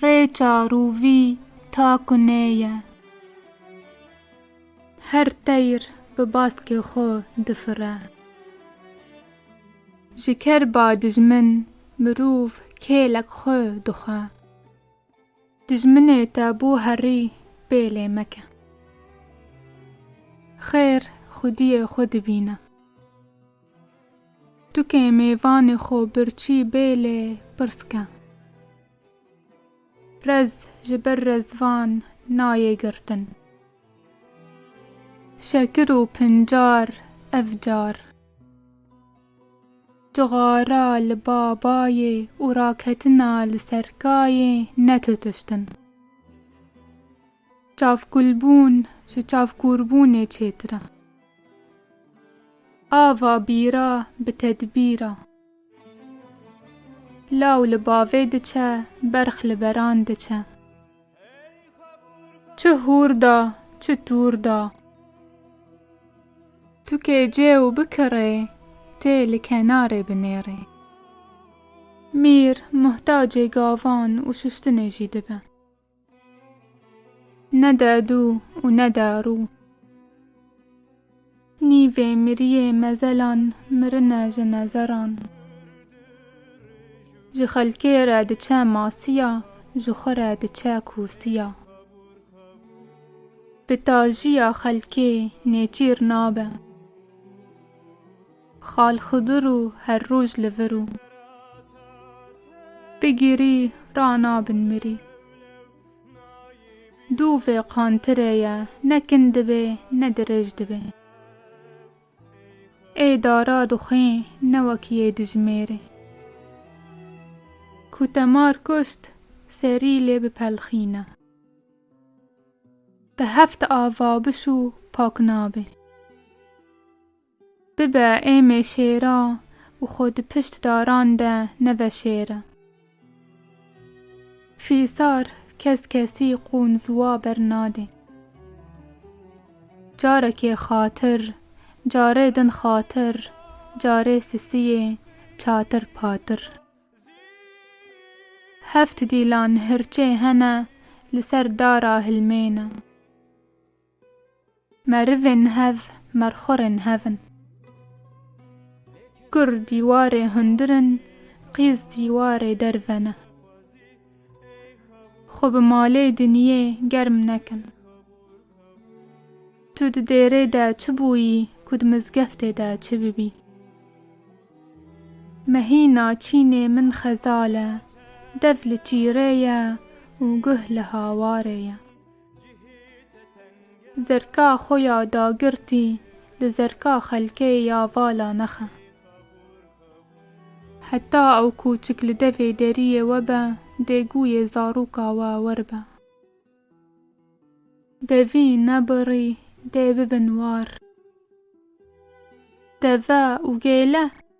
Rê çar û vî ta ku nêye. Her teyr bi baskê xwe difire. Ji ker ba dijmin mirov kêlek xwe dixwe. Dijminê te bo herî pêlê meke. Xêr xwediyê xwe dibîne. Tu kê mêvanê xo birçî bê lê pirs ke. Rez ji ber rezvan nayê girtin. Şekir û pincar ev car. Cixara li ba bayê û raketina li ser kayê netutiştin. Çavkûlbûn ji çavkûrbûnê çêtir e. Ava bîra bi tedbîr e. Law li bavê diçe, berx li beran diçe. Çi hûr da, çi tûr da. Tu kê cê û bikirê, tê li kenarê binêrê. Mîr muhtacê gavan û şuştinê jî dibe. Ne de dû û ne de rû. Nîvê miriyê mezelan mirine ji nezeran. Ji xelkê re diçe masiya, ji xwe re diçe kûsiya. Bi tajiya xelkê nêçîr nabe. Xal Xidûr û her roj li vir û. Bi girî ra nabin mirî. Dû vê qantirê ye ne kin dibê ne dirêj dibê. Ê dara dixwê ne wek yê dijmêrê. Ku te mar kuşt serî lê bipelxîne. Bi heft ava bişû pak nabê. Bibe êmê şêra û xwe di pişt daran de neve şêre. Fîsar kes kesî qûn ziwa ber nadê. Carekê xatir, carê din xatir, carê sisiyê çatir patir. Heft dîlan hirçê hene li ser dara hilmêne. Merivên hev merxorên hev in. Kur dîwarê hundir in, qîz dîwarê derve ne. Xwe bi malê dinyê germ nekin. Tu di dêrê de çi bûyî ku di mizgeftê de çi bibî. Mehîna çînê min xezal e, dev li çîrê ye û guh li hawarê ye. Zerka xwe ya dagirtî li zerka xelkê ya vala nexe. Heta ew kûçik li devê deriyê we be dê gûyê zarûka we wer be. Devîn ne birî dê bibin war. Deve û gêle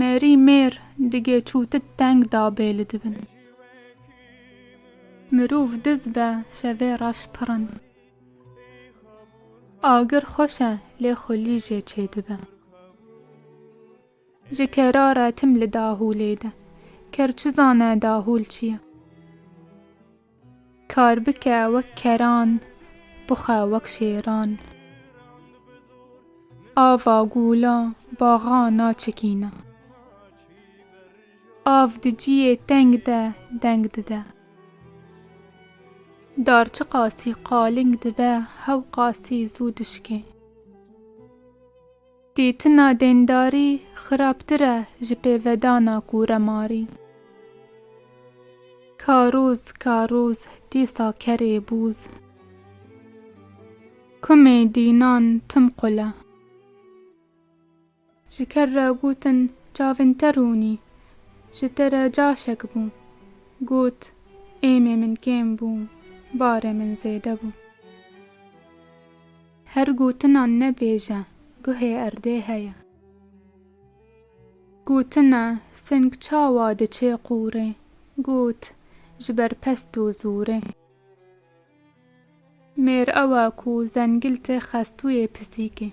Mêrî mêr digê çû ti teng da bê li dibin. Mirûv diz be şevê reş pirin. Agir xweş e lê xulî jê çê dibe. Ji kerare tim li dahûlê de. Ker çi zane dahûl çi ye. Kar bike wek keran, bixwe wek şêran. Ava gûla baxa naçikîne. Av di ciyê teng de deng dide. Dar çi qasî qaling dibe hew qasî zû dişkê. Dîtina dêndarî xirabtir e ji pêvedana kûremarî. Ka rûz ka rûz dîsa kerê bûz. Kumê dînan tim qul e. Ji ker re gotin çavên te rûnî. Ji te re caşek bû. Got, êmê min kêm bû, barê min zêde bû. Her gotina nebêje guhê erdê heye. Gotine seng çawa diçê qûrê, got ji ber pest û zûrê. Mêr ew e ku zengil tê xestûyê pisîkê.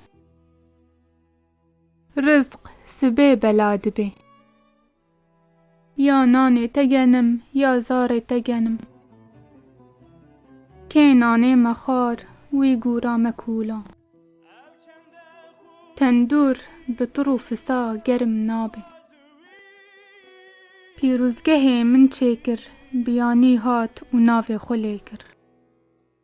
Rizq sibê bela dibê. Ya nanê te genim, ya zarê te genim. Kê nanê me xwar, wî gûra me kûla. Tendûr bi tur û fisa germ nabe. Pîrozgehê min çêkir, biyanî hat û navê xwe lêkir.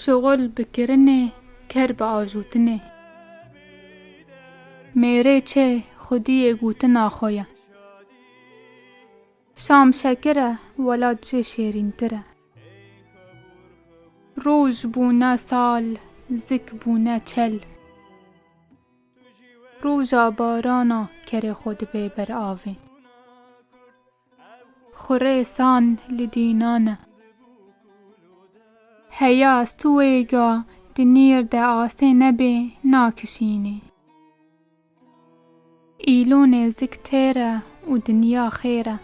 Şuxul bi kirinê, ker bi ajûtinê. Mêrê çê xwediyê gotina xwe ye. Şam şekir e, welat jê şêrîntir e. Roj bûne sal, zik bûne çel. Roja barana kerê xwe dibe ber avê. Xurê san li dînan e. Heya stûêga di nîr de asê nebê nakişînê. Îlo nêzik têr e û dinya xêr e.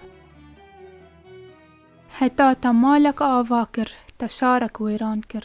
Heta te malek ava kir, te şarek wêran kir.